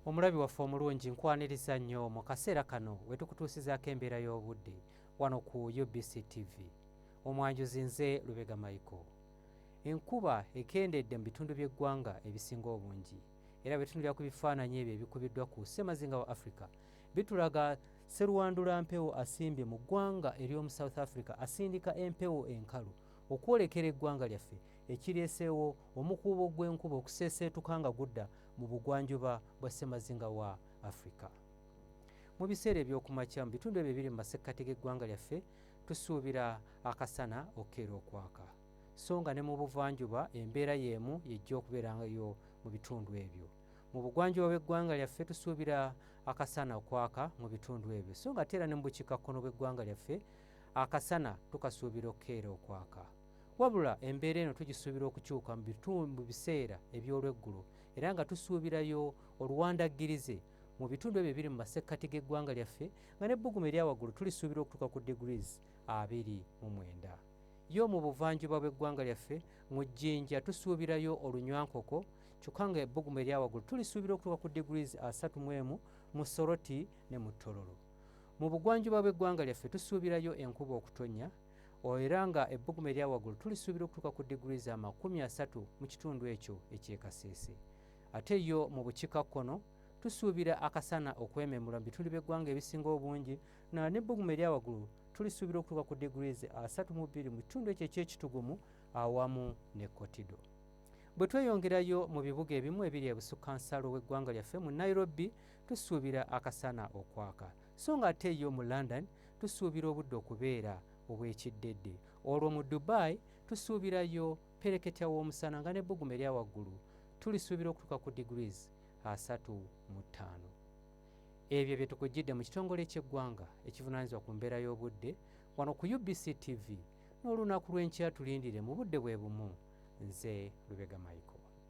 Omulabi waffe omulungi nkwaniriza nnyo mu kaseera kano wetukutuusizaako embeera y'obudde wano ku UBC TV. Omwanjuzi nze Lubega Michael. Enkuba ekendedde mu bitundu by'eggwanga ebisinga obungi era bwetunulira ku bifaananyi ebyo ebikubiddwa ku ssemazinga wa Africa bitulaga seruwandula mpewo asimbye mu ggwanga ery'omu South Africa asindika empewo enkalu okwolekera eggwanga lyaffe ekireeseewo omukuubo gw'enkuba okuseeseetuka nga gudda mu bugwanjuba bwa ssemazinga wa Afrika. Mu biseera eby'okumakya mu bitundu ebyo ebiri mu masekkati g'eggwanga lyaffe tusuubira akasana okukeera okwaka so nga ne mu buvanjuba embeera y'emu yejja okubeerangayo mu bitundu ebyo mu bugwanjuba bw'eggwanga lyaffe tusuubira akasana okwaka mu bitundu ebyo so nga ate era ne mu bukiikakkono bw'eggwanga lyaffe Akasana tukasuubira okukeera okwaka. Wabula embeera eno tugisuubira okukyuka mu bitundu biseera eby'olweggulo era nga tusuubirayo oluwandaggirize mu bitundu ebyo ebiri mu masekkati g'eggwanga lyaffe nga n'ebbugumu eryawaggulu tulisuubira okutuuka ku degrees abiri mu mwenda yo mu buvanjuba bw'eggwanga lyaffe mu jjinja tusuubirayo olunywankoko kyokka nga ebbugumu eryawaggulu tulisuubira okutuuka ku degrees asatu mu emu mu soroti ne mu tololo Mu bugwanjuba bw'eggwanga lyaffe tusuubirayo enkuba okutonnya era nga ebbugumu eryawaggulu tulisuubira okutuuka ku digiri za makumi asatu mu kitundu ekyo ekyekasese ate yo mu bukika kkono tusuubira akasana okwememula mu bitundu by'eggwanga ebisinga obungi na n'ebbugumu eryawaggulu tulisuubira okutuuka ku digiri ze asatu mu bbiri mu kitundu ekyo ekyekitugumu awamu ne kotido bwe tweyongerayo mu bibuga ebimu ebiri ebusukka nsalo w'eggwanga lyaffe mu nairobi Tusuubira akasana okwaka, so nga ate yo mu London tusuubira obudde okubeera obw'ekiddedde. Olwo mu Dubai tusuubirayo pereketya w'omusana nga n'ebbugumu erya waggulu tulisuubira okutuuka ku degrees asatu mu ttaano. Ebyo bye tukuggyidde mu kitongole ky'eggwanga ekivunaanyizibwa ku mbeera y'obudde wano ku UBC TV n'olunaku lw'enkya tulindire mu budde bwe bumu. Nze Lubega Michael.